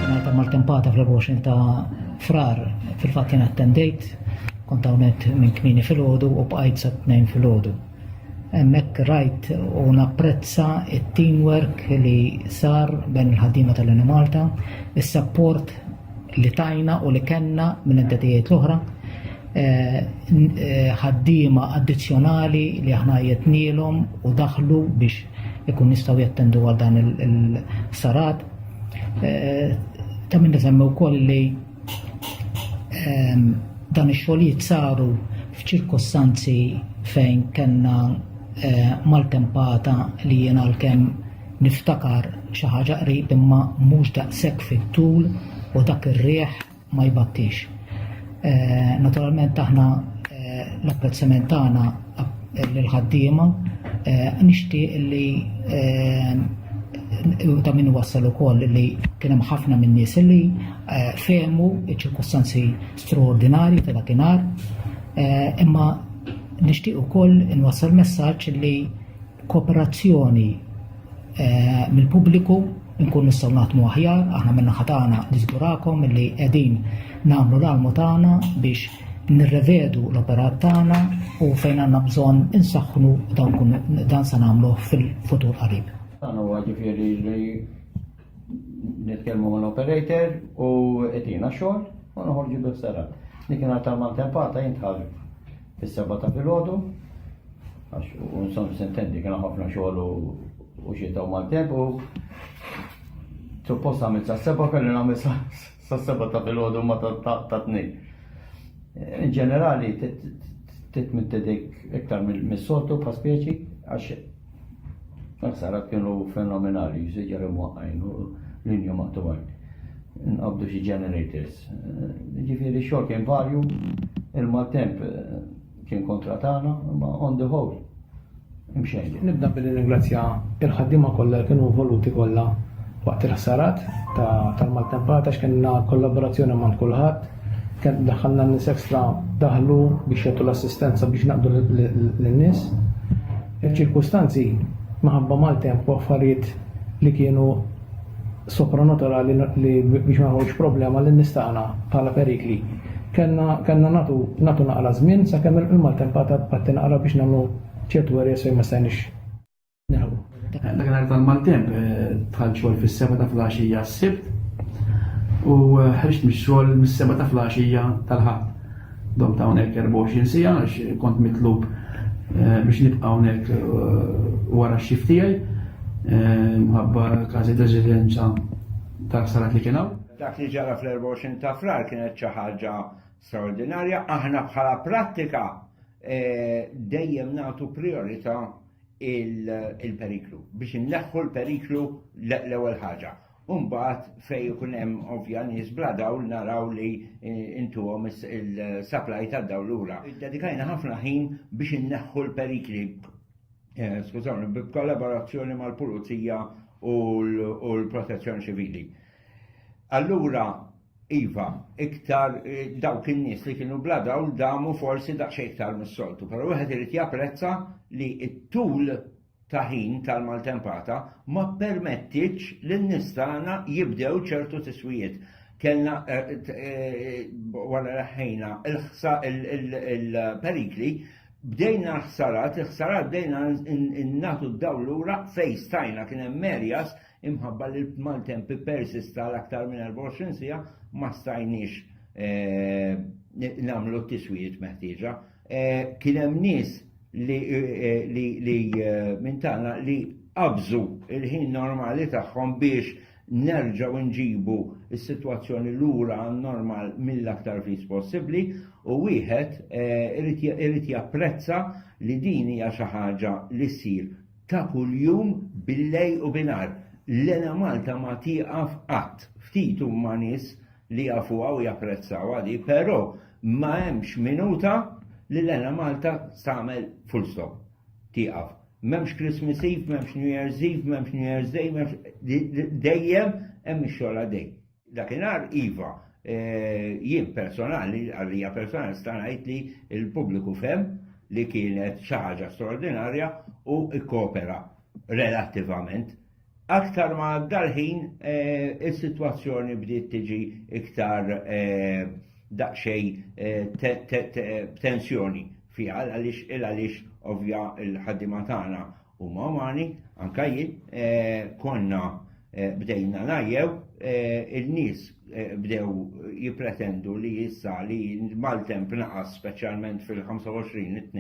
Ngħid maltempata fl-24 ta' frar fil-fatt jien attendejt kont hawnhekk minn kmini fil-ħodu u bqajt sa tnejn fil-ħodu. Hemmhekk rajt u napprezza it-teamwork li sar bejn il-ħaddiema tal-Malta, is-sapport li tajna u li kellna minn entitajiet l-oħra eh, eh, ħaddiema addizzjonali li aħna jetnielhom u daħlu biex ikun jistgħu jattendu għal dan il-sarat. Eh, ta' minn nisemmi wkoll li ehm, dan ix-xogħlijiet saru f'ċirkostanzi fejn kellna maltempata li jiena l-kem Niftakar xi ħaġa qrib imma mhux daqshekk fit-tul u dak ir-riħ ma jbattix. Naturalment aħna l-apprezzament tagħna lill-ħaddiema nixtieq li ta' min wassal ukoll li kien hemm ħafna minn nies li fehmu ċ-ċirkostanzi straordinarji ta' dakinhar imma nixtieq ukoll inwassal messaġġ li kooperazzjoni mill-pubbliku nkun nistgħu naħdmu aħjar, aħna minn naħa tagħna niżgurakom li qegħdin nagħmlu l-almu tagħna biex nirrevedu l-operat tagħna u fejn għandna bżonn insaħħnu dan se nagħmluh fil-futur qarib. Dan huwa ġifieri li nitkellmu mal-operator u qed xogħol u noħorġu bis-sara. Dik ingħata mal-tempata jintħarġu. Is-Seba' ta' filgħodu, għax u nsom sentendi kien ħafna xogħol u xita u maltemp u suppost għamil sa' seba' kelli nagħmel sa' seba' ta' filgħodu ma ta' tnejn. In ġenerali, titmittedek iktar mis-soltu pa' speċi, għax Taħsara kienu fenomenali, jżiġġar imwaqqajn u linju maqtuwajn. Nqabdu xi generators. Ġifieri xogħol kien varju, il-maltemp eh, kien kontra tagħna, ma on the whole. Imxejn. Nibda billi ringrazzja il-ħaddiema kollha kienu voluti kollha waqt il-ħsarat tal-maltempata x'kienna kollaborazzjoni ma' kulħadd Kemm daħħalna n-nies ekstra daħlu biex jagħtu l-assistenza biex naqdu lin-nies. Il-ċirkustanzi maħabba maltemp u affarijiet li kienu sopranaturali li biex ma jħolx problema li nistana bħala perikli. Kenna natu natu naqra żmien sakemm il-maltempata qatti naqra biex nagħmlu ċertu erja se ma stajniex Dakinhar tal-maltemp eh, tħall xogħol fis-seba ta' flaxija s-sibt u eh, ħriġt mix-xogħol mis-seba ta' flaxija tal-ħadd. Dom ta' hawnhekk 24 sija għax kont mitlub eh, biex nibqa' hawnhekk wara x-xift tiegħi mħabba każi residenza ta' sarat li kien hawn. Dak li ġara fl-24 ta' frar kienet xi ħaġa straordinarja, aħna bħala prattika dejjem nagħtu priorità il-periklu, biex inneħħu l-periklu l-ewwel ħaġa. Umbat fej ikun hemm ovvja nies bla dawl naraw li eh, intuhom il-supply ta' dawl lura. Dedikajna ħafna ħin biex inneħħu l-perikli. Eh, skużawni, b'kollaborazzjoni mal-Pulizija u l-Protezzjoni Ċivili. Allura Iva, iktar eh, dawk in-nies li kienu bla dawl damu forsi daqsxejn iktar mis-soltu, però wieħed irid japprezza li t-tul ta' ħin tal-maltempata ma permettiċ lin nistana jibdew ċertu tiswijiet. Kellna eh, eh, wara raħħejna il-perikli bdejna ħsarat, ħsarat bdejna innatu d-dawl lura fejn stajna kien hemm merjas Imħabba li l-maltemp ippersista għal aktar minn 24 siegħa ma stajniex nagħmlu t-tiswijiet meħtieġa. Kien hemm nies li minn tagħna li qabżu il-ħin normali tagħhom biex nerġaw nġibu s-sitwazzjoni lura normal mill-aktar fis possibbli u wieħed eh, irid japprezza li din hija xi ħaġa li ssir ta' kuljum billejl u binhar. L-Ena Malta ma tieqaf qatt. Ftit huma nies li jafuha u japprezzawha di, però ma hemmx minuta li l-Ena Malta tagħmel full stop. Tieqaf. M'hemmx Christmas Eve, m'hemmx New Year's Eve, m'hemmx New Year's Day, m'hemmx dejjem hemm ix-xogħol għaddej. Dakinhar iva, jien personali, għalija personali sta ngħid li l-pubbliku fem li kienet xi ħaġa straordinarja u ikkopera relattivament. Aktar ma dal-ħin is-sitwazzjoni bdiet tiġi iktar daqsxejn tensjoni fiha għaliex il għaliex ovvja l-ħaddiema tagħna U mamani, anka jien, eh, konna eh, bdejna najjew, eh, il-nis bdew jipretendu li jissa li mal-temp naqas specialment fil-25 it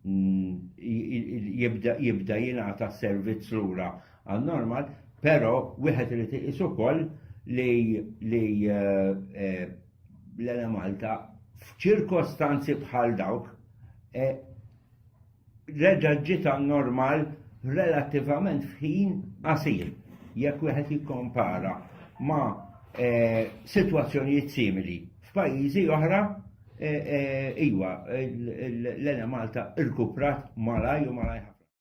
mm, jibda jingħata servizz lura għal normal, pero wieħed irid iqis ukoll li l-Malta f'ċirkostanzi bħal dawk reġa' ġiet għan-normal relattivament f'ħin qasir jekk wieħed jikkompara ma' eh, sitwazzjonijiet simili. F'pajjiżi oħra eh, eh, iwa l-Ene Malta rkuprat malaj u malaj ħafna.